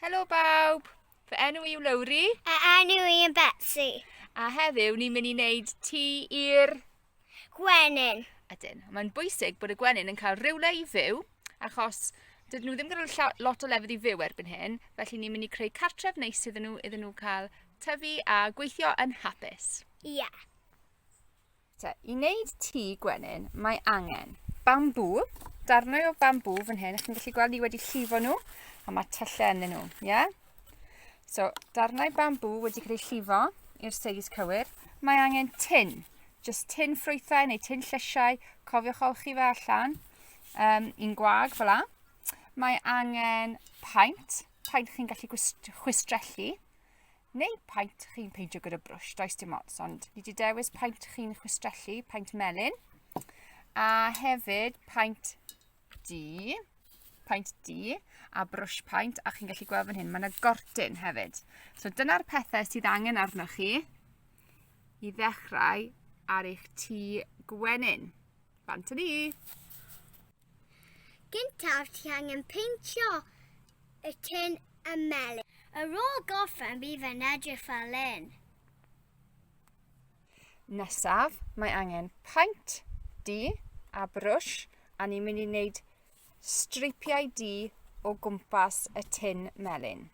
Helo bawb, fy enw i yw Lowri. A enw i yn Betsy. A heddiw ni'n mynd i wneud ti i'r... Gwenyn. Ydyn, mae'n bwysig bod y gwenyn yn cael rhywle i fyw, achos dydyn nhw ddim yn cael lot o lefydd i fyw erbyn hyn, felly ni'n mynd i creu cartref neis iddyn nhw, iddyn nhw cael tyfu a gweithio yn hapus. Ie. Yeah. Te, I wneud tŷ gwenyn, mae angen bambŵ, darnau o bambŵ fan hyn, chi'n gallu gweld ni wedi llifo nhw, a mae tyllau yn nhw, ie? Yeah? So, darnau bambŵ wedi cael eu llifo i'r seis cywir. Mae angen tin, jyst tin ffrwythau neu tin llysiau, cofiwch olchi fe allan, um, i'n gwag fel la. Mae angen paent, paent chi'n gallu chwistrellu, Neu paent chi'n peintio gyda brwsh, does dim ots, ond fi wedi dewis paent chi'n chwistrellu, paent melyn, a hefyd paent du, paent du, a brwsh paent, a chi'n gallu gweld fan hyn, mae yna gortyn hefyd. So dyna'r pethau sydd angen arnoch chi i ddechrau ar eich tŷ gwenyn. Fan ni! Gyntaf ti angen peintio y tin y melyn. Ar ôl gorffen bydd yn edrych fel lun. Nesaf mae angen paint du a brwsh a ni'n mynd i wneud streipiau du o gwmpas y tin melyn.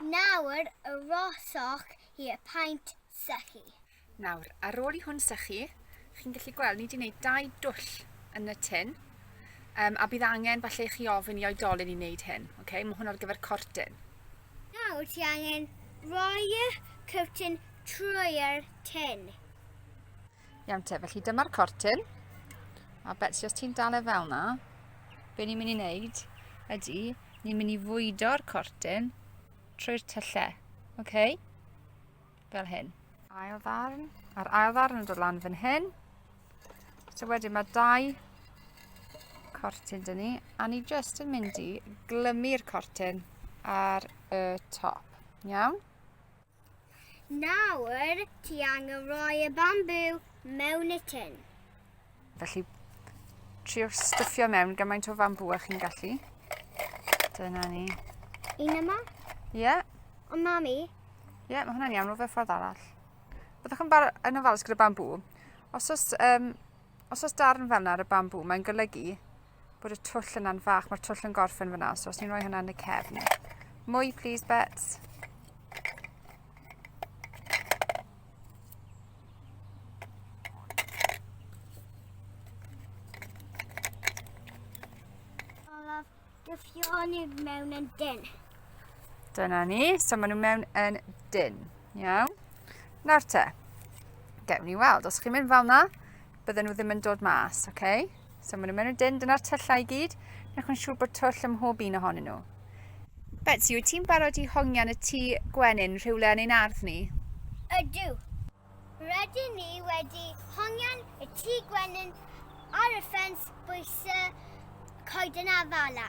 Nawr y rosoch i y paent sychu. Nawr, ar ôl i hwn sychu, chi'n gallu gweld ni wedi gwneud dau dwll yn y tin, um, a bydd angen falle chi ofyn i oedolyn i wneud hyn. Okay? Mae hwn ar gyfer cortyn. Nawr ti angen roi y cyrtyn trwy'r tin. Iawn te, felly dyma'r cortyn. A Betsy, os ti'n dal e fel na, be ni'n mynd i wneud ydy, ni'n mynd i fwydo'r cortyn trwy'r tyllau. Oce? Okay? Fel hyn. Ail ddarn. A'r ail ddarn yn dod lan fan hyn. So wedyn mae dau cortyn dyn ni. A ni jyst yn mynd i glymu'r cortyn ar y top. Iawn? Nawr, ti angen rhoi y bambŵ mewn y tin. Felly, trio stuffio mewn gymaint o fambŵ a chi'n gallu. Dyna ni. Un yma? Ie. Yeah. Ond mami? Ie, yeah, mae hwnna'n iawn, rhywbeth ffordd arall. Byddwch yn, yn ofalus gyda bambŵ. Os oes, um, os oes darn fel yna ar y bambŵ, mae'n golygu bod y twll yna'n fach. Mae'r twll yn gorffen fyna, so os ni'n rhoi hwnna yn y cefn. Mwy, please, Bets. Dyffio ni mewn yn dyn. Dyna ni, so maen nhw mewn yn dyn. Iawn. Nawr te, gewn ni weld. Os chi'n mynd fel na, bydden nhw ddim yn dod mas, oce? Okay? So maen nhw'n mynd yn dyn, dyna'r tyllau i gyd. Newch yn siŵr bod twll ym mhob un ohonyn nhw. Betsy, wyt ti'n barod i hongian y tŷ gwenyn rhywle yn ein ardd ni? Ydw. Rydyn ni wedi hongian y tŷ gwenyn ar y ffens bwys y coeden afala.